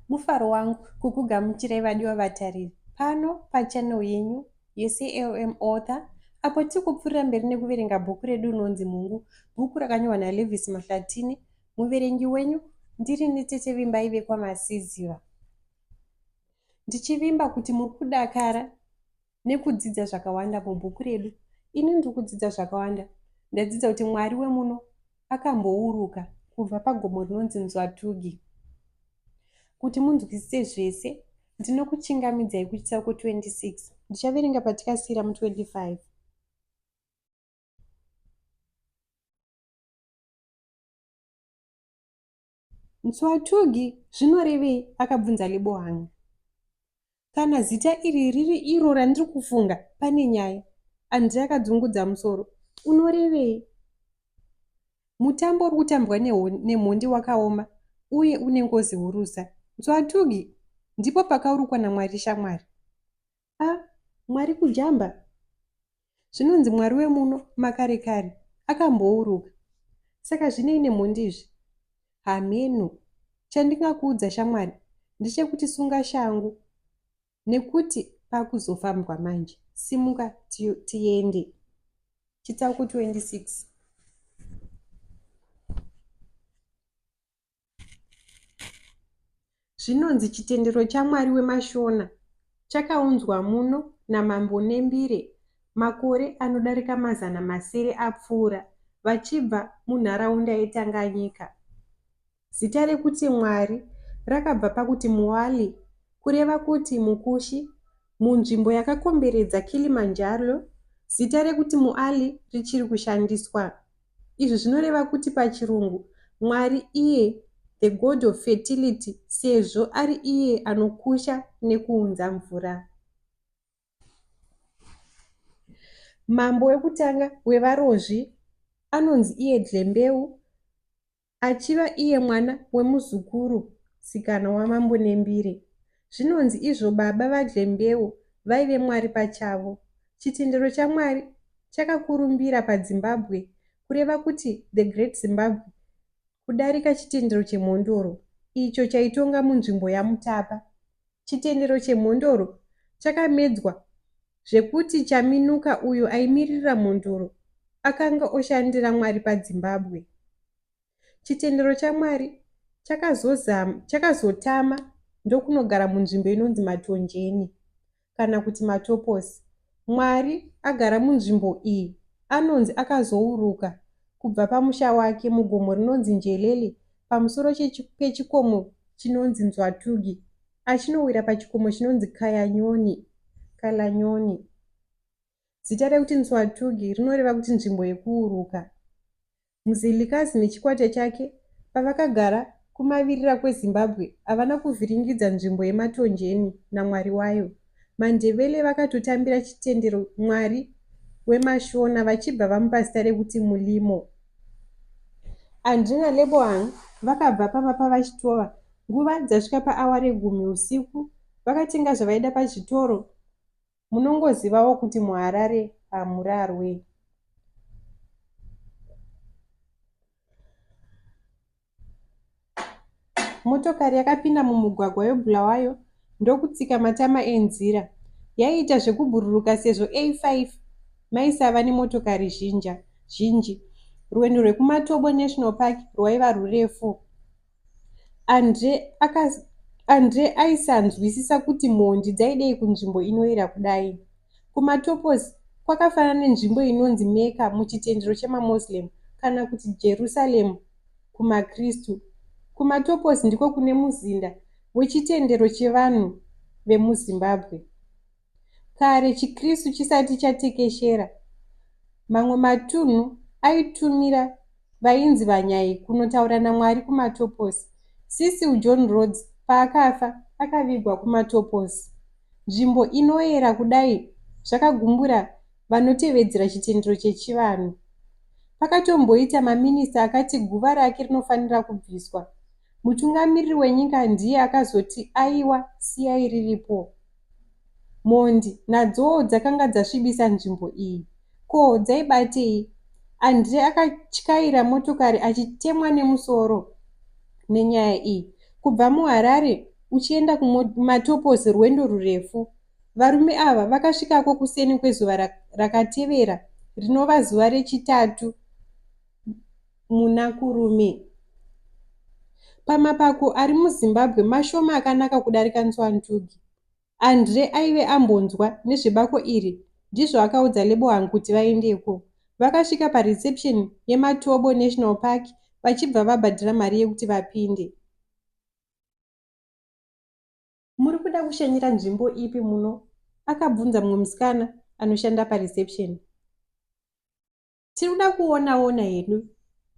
Mufaro wangu kukugamuchirai vadiwa vatariri pano pachannel yenyu yeCLM Author apo tiri kupfuurira mberi nekuverenga bhuku redu rinonzi Mungu, bhuku rakanyorwa naLevis Mahlatini. Muverengi wenyu ndiri nitete Vimbai vekwamasiziva. Ndichivimba kuti muri kudakara nekudzidza zvakawanda mubhuku redu. Ini ndiri kudzidza zvakawanda. Ndadzidza kuti Mwari wemuno akambouruka kubva pagomo rinonzi Nzwatugi. Kuti munzwisise zvese, ndinokuchingamidzai kuchitsauko 26. Ndichaverenga patikasiyira mu 25. Mtswathogi zvinorevei? akabvunza Lebohang. Kana zita iri riri iro randiri kufunga, pane nyaya. Andre akadzungudza musoro. Unorevei? Mutambo uri kutambwa nemhondi wakaoma uye une ngozi hurusa. Mtswathogi, ndipo pakaurukwa naMwari shamwari. A, Mwari kujamba? Zvinonzi Mwari wemuno makare kare akambouruka. Saka zvinei nemhondi izvi? Hameno. Chandingakuudza shamwari ndechekuti sunga shangu nekuti pakuzofambwa manje. Simuka tiende. Chitsauko 26. Zvinonzi chitendero chaMwari wemaShona chakaunzwa muno naMambo Nembire makore anodarika mazana masere apfuura vachibva munharaunda yeTanganyika. Zita rekuti Mwari rakabva pakuti Mwali kureva kuti mukushi. Munzvimbo yakakomberedza Kilimanjaro zita rekuti Muali richiri kushandiswa. Izvi zvinoreva kuti pachiRungu, Mwari iye the god of fertility sezvo ari iye anokusha nekuunza mvura. Mambo wekutanga wevarozvi anonzi iye Dlembeu Achiva iye mwana wemuzukuru sikana waMambo Nembire, zvinonzi izvo baba vaDlembeu vaive Mwari pachavo. Chitendero chaMwari chakakurumbira paDzimbabwe kureva kuti the Great Zimbabwe kudarika chitendero cheMhondoro icho chaitonga munzvimbo yaMutapa. Chitendero cheMhondoro chakamedzwa zvekuti Chaminuka uyo aimiririra mhondoro akanga oshandira Mwari paDzimbabwe. Chitendero chaMwari chakazozama, chakazotama ndokunogara munzvimbo inonzi Matonjeni kana kuti Matoposi. Mwari agara munzvimbo iyi anonzi akazouruka kubva pamusha wake mugomo rinonzi Njelele pamusoro pechikomo chinonzi Nzwatugi Achinowira pachikomo chinonzi Kayanyoni, Kalanyoni. Zita rekuti Ntswatugi rinoreva kuti nzvimbo yekuuruka. Mzilikazi nechikwata chake pavakagara kumavirira kweZimbabwe havana kuvhiringidza nzvimbo yeMatonjeni naMwari wayo. Mandebele vakatotambira chitendero Mwari wemashona vachibva vamupa zita rekuti Mulimo. Andri naLebohang vakabva pamba pavaChitova nguva dzasvika paawa regumi usiku vakatenga zvavaida pazvitoro munongozivawo kuti muHarare hamurarwe. Motokari yakapinda mumugwagwa weBulawayo ndokutsika matama enzira. Yaiita zvekubhururuka sezvo A5 maisava nemotokari zhinji. Rwendo rwekuMatobo National Park rwaiva rurefu. Andre akas Andre aisanzwisisa kuti mhondi dzaidei kunzvimbo inoyera kudai. KuMatopos kwakafanana nenzvimbo inonzi Mecca muchitendero chemaMuslim kana kuti Jerusalem kumaKristu. KuMatoposi ndiko kune muzinda wechitendero chevanhu vemuZimbabwe. Kare chiKristu chisati chatekeshera, mamwe matunhu aitumira vainzi vaNyai kunotaura naMwari kuMatoposi. Cecil John Rhodes paakafa, akavigwa kuMatoposi. Nzvimbo inoera kudai zvakagumbura vanotevedzera chitendero chechivanhu. Pakatomboita maminista akati guva rake rinofanira kubviswa, mutungamiriri wenyika ndiye akazoti aiwa siyai riripo. Mhondi nadzowo dzakanga dzasvibisa nzvimbo iyi. Ko dzaibatei? Andre akatyaira motokari achitemwa nemusoro nenyaya iyi. Kubva muHarare uchienda kuMatoposi rwendo rurefu Varume ava vakasvikako kuseni kwezuva rakatevera rinova zuva rechitatu muna Kurume. Pamapako ari muZimbabwe mashoma akanaka kudarika Nzwandugi. Andre aive ambonzwa nezvebako iri ndizvo akaudza Lebohang kuti vaendeko. Vakasvika pareception yeMatobo National Park vachibva vabhadhira mari yekuti vapinde. Muri kuda kushanyira nzvimbo ipi muno? akabvunza mumwe musikana anoshanda pareception. Tiri kuda kuonaona hedu,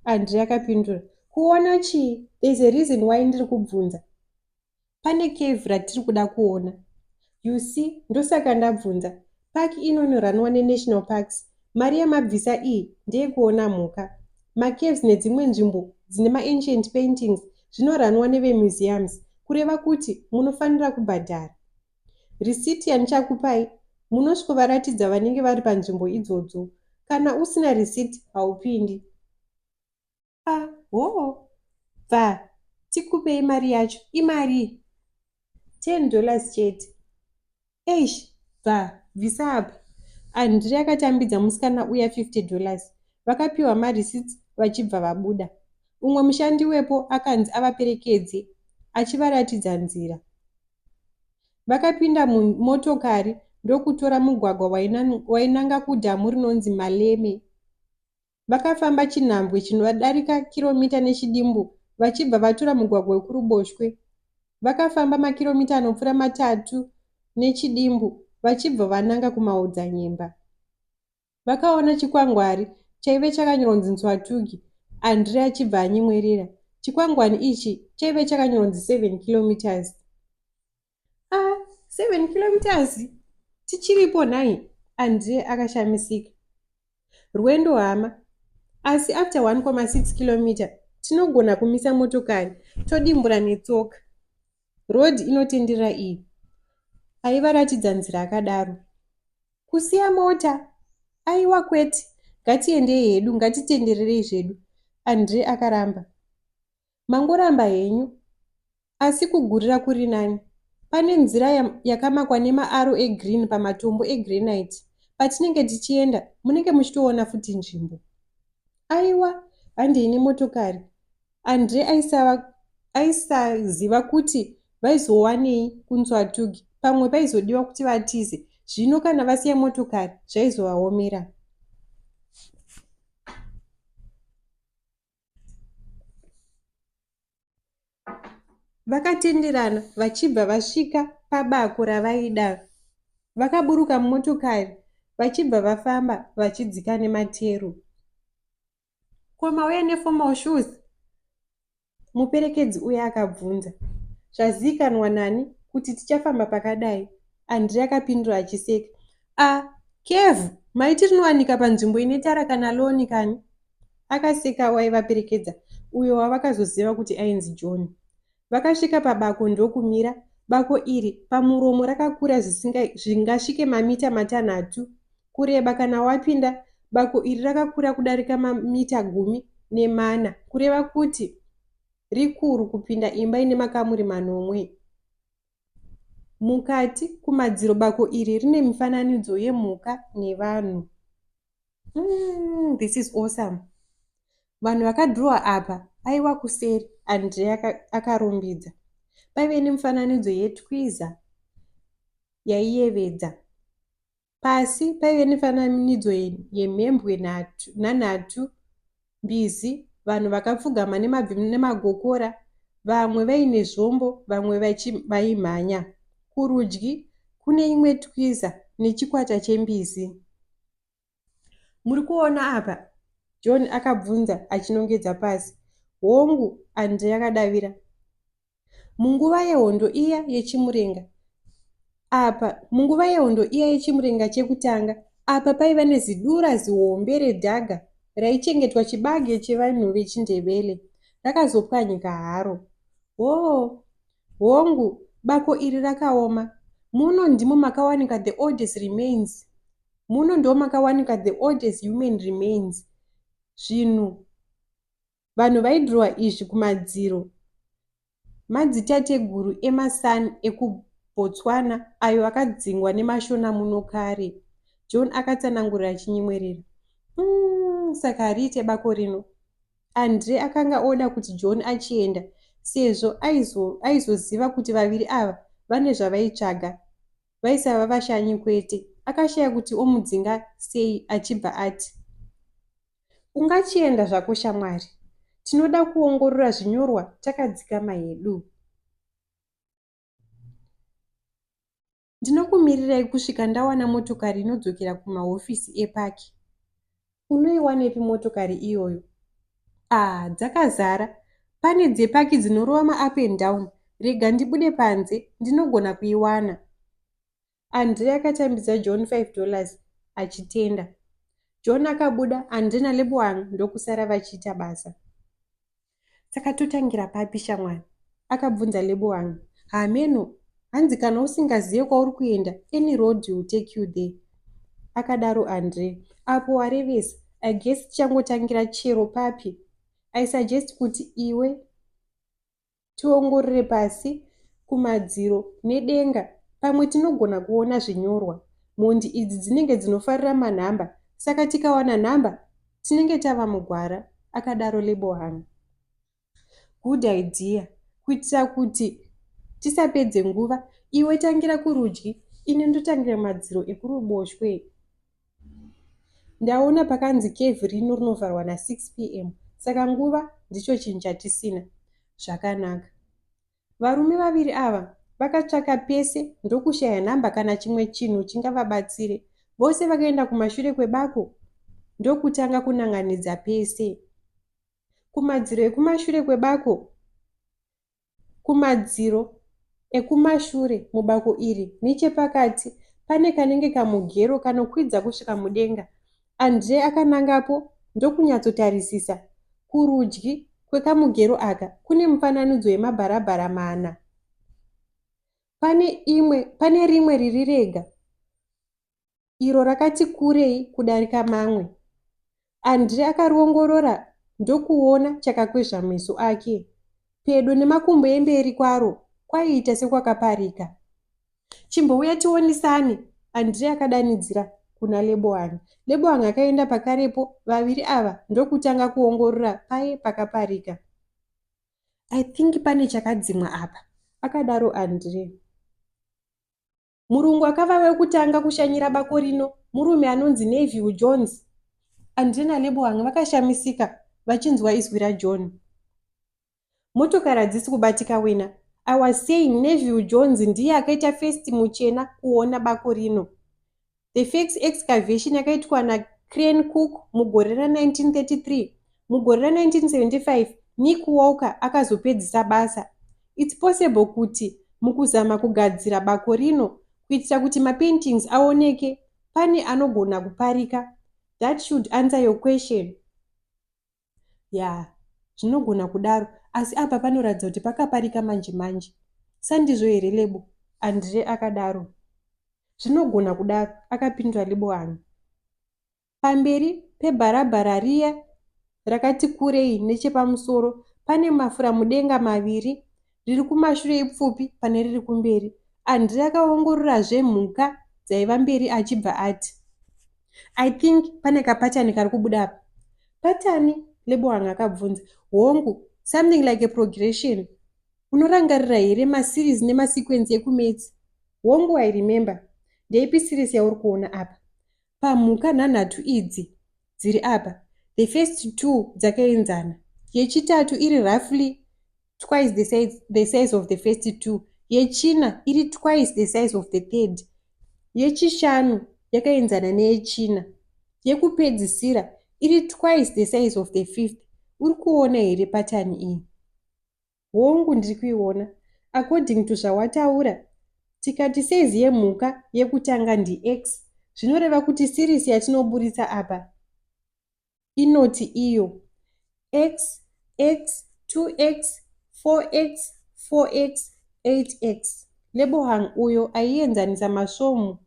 Andre akapindura. Kuona chii? There's a reason why ndiri kubvunza. Pane cave ratiri kuda kuona. You see, ndosaka ndabvunza. Park ino inoranwa neNational Parks Mari yamabvisa iyi ndeyekuona mhuka, macaves nedzimwe nzvimbo dzine maancient paintings zvinoranwa nevemuseums kureva kuti munofanira kubhadhara. Risiti yandichakupai munosvikovaratidza vanenge vari panzvimbo idzodzo. Kana usina risiti haupindi. ah hoo bva tikupei mari yacho imari ten dollars chete eish bva bvisa apa andri akatambidza musikana uya fifty dollars vakapiwa marecits vachibva vabuda umwe mushandi wepo akanzi avaperekedze achivaratidza nzira vakapinda mumotokari ndokutora mugwagwa wainanga kudhamu rinonzi maleme Vakafamba chinhambwe chinodarika kiromita nechidimbu vachibva vatura mugwagwa wekuruboshwe. Vakafamba makiromita anopfuura matatu nechidimbu vachibva vananga kumaodzanyemba. Vakaona chikwangwari chaive chakanyoronzi Nzwatugi, Andre achibva anyemwerera. Chikwangwani ichi chaive chakanyoronzi 7 kilometres. ah, seven kilometers tichiripo nhai andre akashamisika rwendo hama asi after 1,6 kilometer tinogona kumisa motokari todimbura netsoka road inotendera iyi aivaratidza nzira akadaro kusiya mota aiwa kwete ngatiendei hedu ngatitendererei zvedu andre akaramba mangoramba henyu asi kugurira kuri nani. Pane nzira yakamakwa nemaaro egreen pamatombo egranite. Patinenge tichienda munenge muchitoona futi nzvimbo. Aiwa, handei nemotokari. Andre aisaziva kuti vaizowanei kunzwatugi pamwe paizodiwa kuti vatize zvino kana vasiya motokari zvaizovaomera Vakatenderana vachibva vasvika pabako ravaida. Vakaburuka mumotokari vachibva vafamba vachidzika nemateru. Ko mauya neformal shoes? Muperekedzi uya akabvunza. Zvazivikanwa nani kuti tichafamba pakadai? Andrea akapindura achiseka. A, Kev, maiti rinowanika panzvimbo ine tara kana loni kani? Akasika waivaperekedza uyo wavakazoziva kuti ainzi John. Vakasvika pabako ndokumira. Bako iri pamuromo rakakura zvingasvike mamita matanhatu kureba. Kana wapinda, bako iri rakakura kudarika mamita gumi nemana, kureva kuti rikuru kupinda imba ine makamuri manomwe. Mukati kumadziro bako iri rine mifananidzo yemhuka nevanhu. mm, this is awesome vanhu vakadhurowa apa aiwa kuseri andre akarumbidza paive nemufananidzo yetwiza yaiyevedza pasi paive nefananidzo yemhembwe nanhatu mbizi, vanhu vakapfugama nemabvi nemagokora, vamwe vaine zvombo, vamwe vachi, vaimhanya. Kurudyi, kune imwe twiza nechikwata chembizi. Muri kuona apa? John akabvunza achinongedza pasi. Hongu, Andre akadavira. Munguva yehondo iya yechimurenga, apa munguva yehondo iya yechimurenga chekutanga, apa paiva nezidura zihombe redhaga raichengetwa chibage chevanhu vechiNdebele, rakazopwanyika haro. Hoo, hongu, bako iri rakaoma. Muno ndimo makawanika the oldest remains. Muno ndimo makawanika the oldest human remains. Zvinhu Vanhu vaidhirowa izvi kumadziro madzitateguru emaSan ekuBotswana ayo akadzingwa nemaShona muno kare, John akatsanangurira achinyemwerera. Umm, saka hariite bako rino. Andre akanga oda kuti John achienda sezvo aizoziva aizo kuti vaviri ava vane zvavaitsvaga vaisava vashanyi kwete. Akashaya kuti omudzinga sei achibva ati. Ungachienda zvako shamwari, tinoda kuongorora zvinyorwa takadzikama hedu. Ndinokumirirai kusvika ndawana motokari inodzokera kumahofisi epaki. Unoiwanepi motokari iyoyo? Ah, dzakazara. Pane dzepaki dzinorova ma-up and down. Rega ndibude panze, ndinogona kuiwana. Andre akatambidza John five dollars achitenda. John akabuda Andre naLeboang ndokusara vachiita basa. Saka totangira papi shamwari? akabvunza Leboang. Hameno, hanzi kana usingazive kwauri kuenda, any road will take you there. Akadaro Andre. Apo warevesa, I guess tichangotangira chero papi. I suggest kuti iwe tiongorore pasi, kumadziro nedenga. Pamwe tinogona kuona zvinyorwa. Mhondi idzi dzinenge dzinofarira manhamba saka tikawana nhamba tinenge tava mugwara, akadaro Lebohang. Good idea. Kuitira kuti tisapedze nguva, iwe tangira kurudyi, ini ndotangira madziro ekuruboshwe. Ndaona pakanzi cave rino rinovharwa na 6 pm saka nguva ndicho chinhu chatisina. Zvakanaka. Varume vaviri ava vakatsvaka pese ndokushaya nhamba kana chimwe chinhu chingavabatsire. Vose vakaenda kumashure kwebako ndokutanga kunanganidza pese. Kumadziro ekumashure kwebako Kumadziro ekumashure mubako iri nechepakati pane kanenge kamugero kanokwidza kusvika mudenga. Andre akanangapo ndokunyatsotarisisa. Kurudyi kwekamugero aka kune mufananidzo yemabharabhara mana. Pane imwe, pane rimwe riri rega. iro rakati kurei kudarika mamwe. Andre akariongorora ndokuona chakakwezva meso ake. Pedo nemakumbo emberi kwaro kwaiita sekwakaparika. Chimbouya tionisane, Andre akadanidzira kuna Leboang. Leboang akaenda pakarepo vaviri ava ndokutanga kuongorora paye pakaparika. I think pane chakadzimwa apa, akadaro Andre. Murungu akava wekutanga kushanyira bako rino, murume anonzi Neville Jones. Andre naLeboang vakashamisika vachinzwa izwi raJohn. Motokari hadzisi kubatika wena. I was saying Neville Jones ndiye akaita first muchena kuona bako rino. The fax excavation yakaitwa na Crane Cook mugore ra 1933. Mugore ra 1975 Nick Walker akazopedzisa basa. It's possible kuti mukuzama kugadzira bako rino kuitira kuti mapaintings aoneke pane anogona kuparika that should answer your question yeah zvinogona kudaro asi apa panoratidza kuti pakaparika manje manje sandizvo here lebo andre akadaro zvinogona kudaro akapindura lebohani Pamberi pebharabhara riya rakati kurei nechepamusoro pane mafuramudenga maviri, riri kumashure ipfupi pane riri kumberi. Andrey akaongororazve mhuka dzaiva mberi achibva ati, I think pane kapatani kari kubuda apa. Patani? Leboang akabvunza. Hongu, something like a progression. Unorangarira here maseries nemasequence ekumaths? Hongu, I remember. Ndeipi series yauri kuona apa? pamhuka nhanhatu idzi dziri apa the first two dzakaenzana yechitatu iri roughly twice the size, the size of the first two yechina iri twice the size of the third yechishanu yakaenzana neyechina yekupedzisira iri twice the size of the fifth uri kuona here patani iyi Hongu ndiri kuiona according to zvawataura tikati size yemhuka yekutanga ndiX zvinoreva kuti series yatinoburitsa apa inoti iyo X, X, 2X, 4X, 4X, 8X. Lebohang uyo aienzanisa masvomu.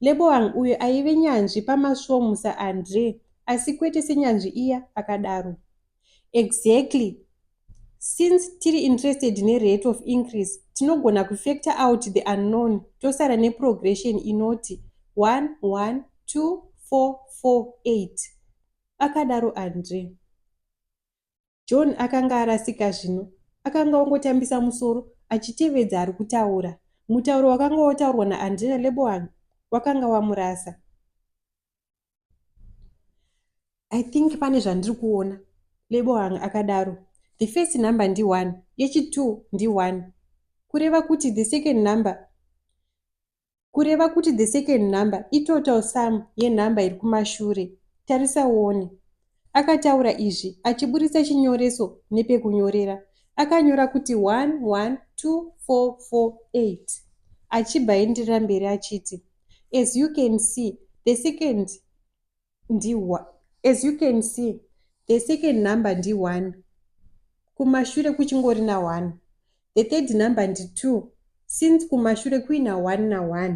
Lebohang uyo aive nyanzvi pamasvomu saAndre asi kwete senyanzvi iya, akadaro. Exactly, Since tiri interested ne rate of increase, tinogona kufactor out the unknown tosara ne progression inoti one, one, two, four, four, eight, akadaro Andre. John akanga arasika zvino. Akanga ongotambisa musoro achitevedza ari kutaura. Mutauro wakanga wotaurwa naAndre naLeboang wakanga wamurasa. i think pane zvandiri kuona lebohang akadaro the first number ndi1 yechi2 ndi1 kureva kuti the second number kureva kuti the second number itotal sum yenumber iri kumashure tarisa uone Akataura izvi achiburitsa chinyoreso nepekunyorera. Akanyora kuti 112448 achibva aenderera mberi achiti as you can see the second ndi as you can see the second number ndi 1 kumashure kuchingori na 1 the third number ndi 2 since kumashure kuina 1 na 1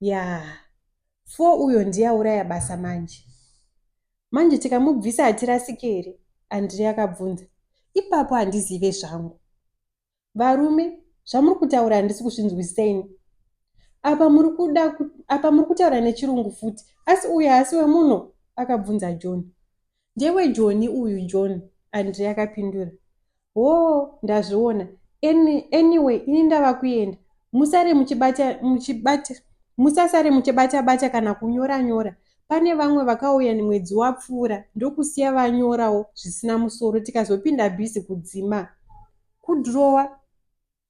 Yaah four uyo ndiye auraya basa manje. Manje tikamubvisa hatirasike here? Andrey akabvunza. Ipapo handizive zvangu. Varume, zvamuri kutaura handisi kuzvinzwisisa ini. Apa muri kuda apa muri kutaura nechirungu futi. Asi uyu haasi wemuno? akabvunza John. Ndewe Joni uyu John, Andre akapindura Hoo ndazviona any, anyway ini ndava kuenda musare muchibata, muchibata, musasare muchibata bata kana kunyora nyora pane vamwe vakauya mwedzi wapfuura ndokusiya vanyorawo zvisina musoro tikazopinda busy kudzima kudhurowa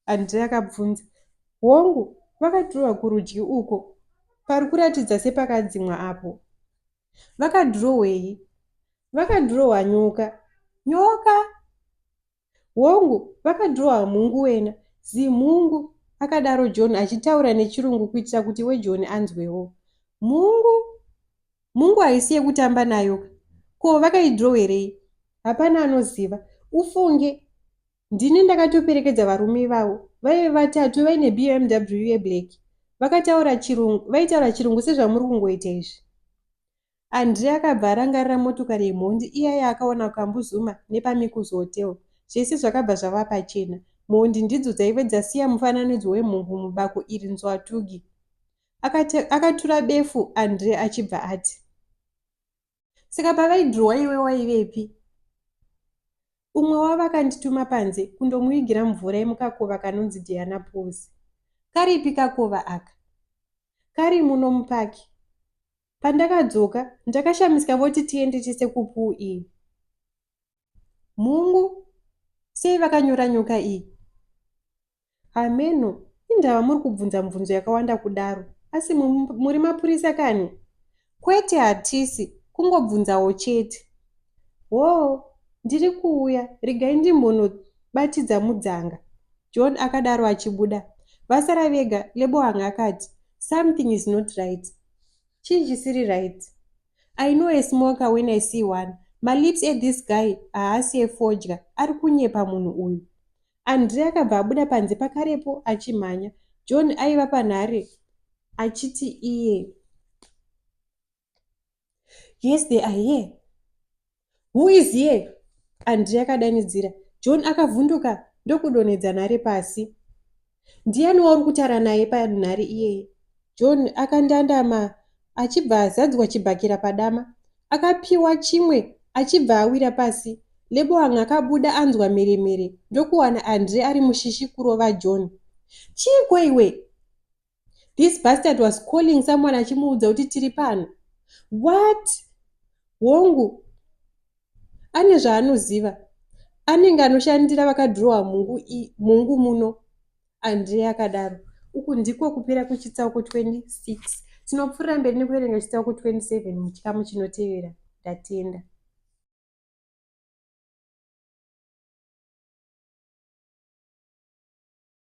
Andre akabvunza. Hongu, vakadhirowa kurudyi uko pari kuratidza sepakadzimwa apo. Vakadhirowei? Vakadhirowa nyoka. Nyoka? Hongu, vakadhirowa mhungu wena, zimhungu, akadaro John achitaura nechirungu kuitira kuti weJohn anzwewo. Mhungu? Mhungu haisi yekutamba nayo ka? Ko vakaidhirowerei? Hapana anoziva. Ufunge. Ndini ndakatoperekedza varume ivavo vaive vatatu vaine BMW yeblack vakataura chirungu vaitaura chirungu sezvamuri kungoita izvi. Andre akabva arangarira motokari yemhondi iya yaakaona kuKambu Zuma nepaMikuzi Hotel. Zvese zvakabva zvava pachena. Mhondi ndidzo dzaive dzasiya mufananidzo wemhungu mubako iri nzwatugi. Akate, akatura befu Andre achibva ati. saka pavaidhurowa iwe waivepi umwe wavo akandituma panze kundomuvigira mvura yemukakova kanonzi diana pools karipi kakova aka kari muno mupaki pandakadzoka ndakashamisika voti tiende tese kupuu iyi Mhungu sei vakanyura nyoka iyi? Hameno indava muri kubvunza mubvunzo yakawanda kudaro asi muri mapurisa kani? Kwete hatisi kungobvunzawo chete. Hoo ndiri kuuya regai ndimbonobatidza mudzanga. John akadaro achibuda. Vasara vega Lebohang akati something is not right. Chii chisiri right? I know a smoker when I see one. Malips ethis guy haasi efodya, ari kunyepa munhu uyu. Andre akabva abuda panze pakarepo achimhanya. John aiva panhare achiti iye. Yes, they are here. who is here andri akadanidzira john akavhunduka ndokudonhedza nhare pasi ndiyani wauri kutaura naye panhare iyeye john akandandama achibva azadzwa chibhakira padama akapiwa chimwe achibva awira pasi leboang akabuda anzwa mheremhere ndokuwana andre ari mushishi kurova john chiiko iwe this bastard was calling someone achimuudza kuti tiri pano what hongu ane zvaanoziva anenge anoshandira vakadhirowa mungu, mungu muno andrei akadaro uku ndiko kupera kwechitsauko 26 tinopfuurira mberi nekuverenga chitsauko 27 muchikamu chinotevera ndatenda